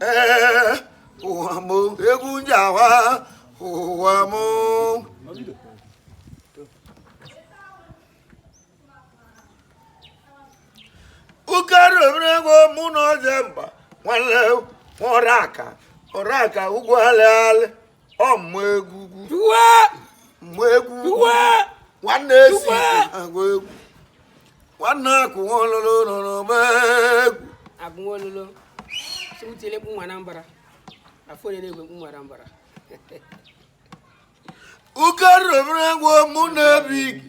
ee ụwa m egwu m ji awa ụwa m ụkarọ obere ego mụ na Ojemba nwanne ọrụ aka ọrụ aka ụgwọ alị alị ọ mma egwu mma egwu nwanne esi agụ egwu nwanne akụ nwololo nụrụ m egwu agụ nwololo si m tiele egwu nwa Anambra afọ onye na-egwu egwu nwa Anambra ụkarọ obere ego mụ na-ebi gị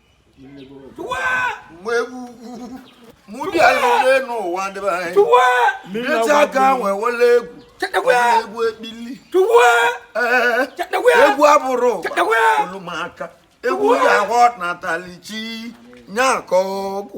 mgbe egwu ugwu mụ bịa lere n'ụwa ndị be anyị mmechi aka nwee wele egwu egwu ekpili egwu abụrọ ọlụ ụmụaka egwu ji ahụ natalichi nya aka ọgwụ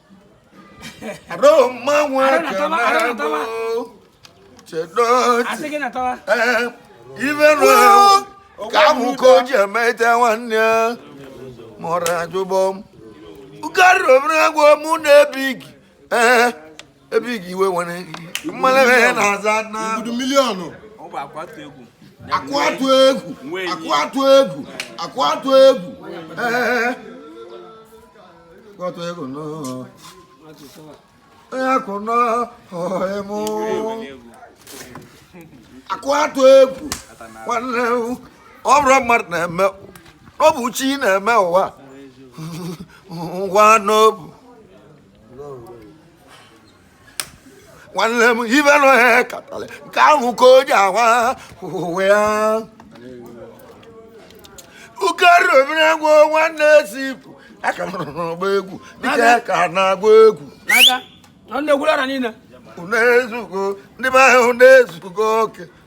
ka ahụ ka o ji emete nwanne ya mụrụ ajụbọ m ụkarọ obere ego mụ na ebighị ee ebighị iwe nwere mmalebe ya na-aza na Obodo miliọnụ akụ atụ egwu akụ atụ egwu akụ atụ egwu ee akụ atụ egwu nọ onye akụ nọ ọhịmụ akụ atụ egwu nwanne m. ọ bụrọ mmadụ na-eme ọ bụ chi na-eme ụwa ngwa n'obu nwanne m ife onye katara nke ahụ ka o ji awa ụwa ya ụkarọ obere ego nwanne ezipụ aka nọrọ n'ọgba egwu dịka ka na-agba egwu na-egwulara niile unu ezugo ndị be anyị unu ezugo oke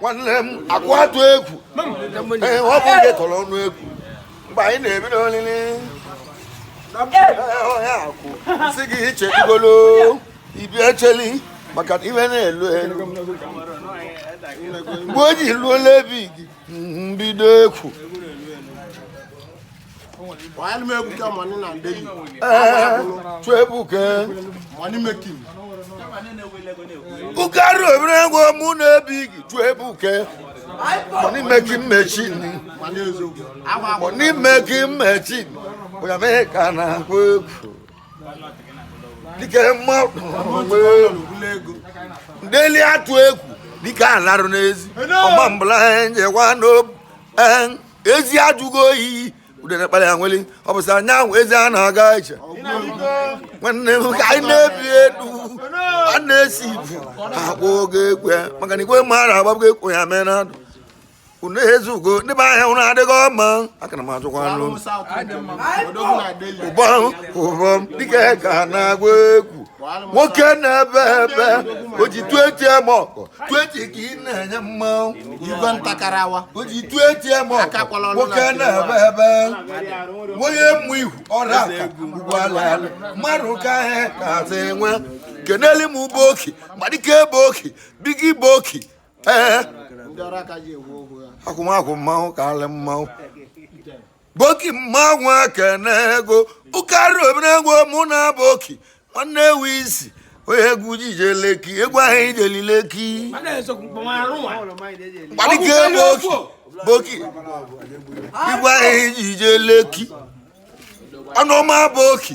nwanne m akụ atụ egwu ee ọ bụ ndị tọrọ ọnụ egwu mgbe anyị na-ebido olili ọhịa akwụ si gị iche igolo ibi echeli maka na ife na-elu elu mgbe o ji luola ebe gị mbido ekwu ụkarọ obere ego mụ na-ebi gị Chukwuebuka money making machine money making machine onye mee ka na-agụ egwu dịka mmụọ ndeli atụ egwu dịka alarụ n'ezi ọma mbụla njewa n'obu ezi ajụgo oyi udere kpara ya nwere ọ bụ sị anyanwụ ezi a na-aga iche nwanne m ka anyị na-ebi elu a na-esi ibu akpọ oge egwu ya maka na igwe mmadụ agbagbugo ekwo ya mee na ndụ unu ezugo ndị be ahịa unu adịghị ọma aka na m ajụkwa anụ unu. ụbọm ụbọm dike ga na-agba egwu nwoke na-ebe ebe o ji 20 mmụọ o ji 20 ka ị na-enye mmanwụ igwe ntakarawa o ji 20 mmụọ Akakwala ọnụ nwoke na na-ebe ebe onye mmụ ihu ọrụ aka ugwu ala ala mmadụ ka ahịa ka azụ nwa keneli m bụ oki madike bụ oki bigi bụ oki ee ndị ọrụ aka ji ewu ohu ya akwụmakwụ mmanwụ ka alị mmanwụ boki mmanwụ ekene ego ụkarị omenegwu mụ na boki nwanne ewu isi onye egwu jije leki egwu ahụ ijeli leki gbalike boki boki igwe ahụ ijije leki ọnụọma boki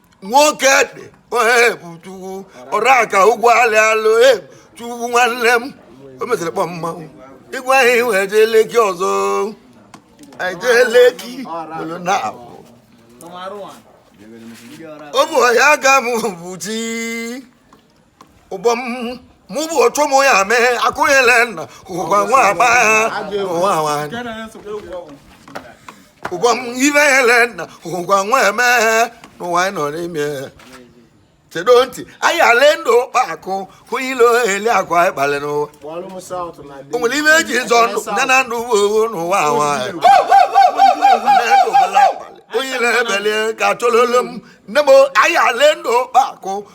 nwoke dị chukwu ọra ka ụgwọ alị alụ e, chukwu nwanne m o mesịrị kpọ mmanwụ ịgwa ihe iwe jee leki ọzọ ejee leki bụrụ na abụ ụmụ ọhịa aka m bụ chi ụbọm mụ bụ otu ụmụ ya mee akụnyele nna ụgwa nwa agba ya ụwa nwanyị ụbọm ibe ele nna ụgwa nwa eme n'ụwa anyị nọ n'ime chedo ntị anyị ale ndụ ụkpa akụ hụ ile eli akụ anyị kpalị n'ụwa Kpọọrọ m South na o nwere ibe eji zọ ndụ ya na ndụ bụ owo n'ụwa nwanyị onye na-ebeli ka tololo m nne m anyị ale ndụ ụkpa akụ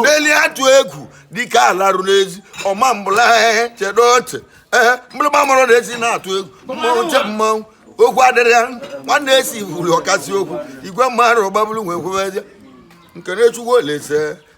ndeli atụ egwu dike alarụ n'ezi ọma mbụla ehe chedo ntị ehe mgbịrịgba mụrụ na esi na-atụ egwu mmanwụ che mmanwụ okwu adịrị ya nwanne esi wuru ọkasị okwu igwe mmadụ gbagburu onwe kwubezie nke na-echukwu olese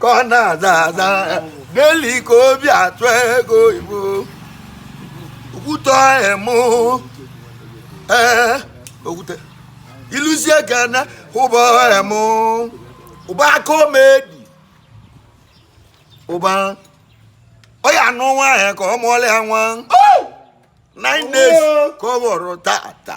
ka ọ na-aza aza ndeli ka obi atụ ego oyibo okwute emu ee okwute iluzie ka na ụba emu ụba aka omedi ụba ọ ya-anụ nwaanyị ka ọ mụọla ya nwa nine days ka ọ bụrụ tata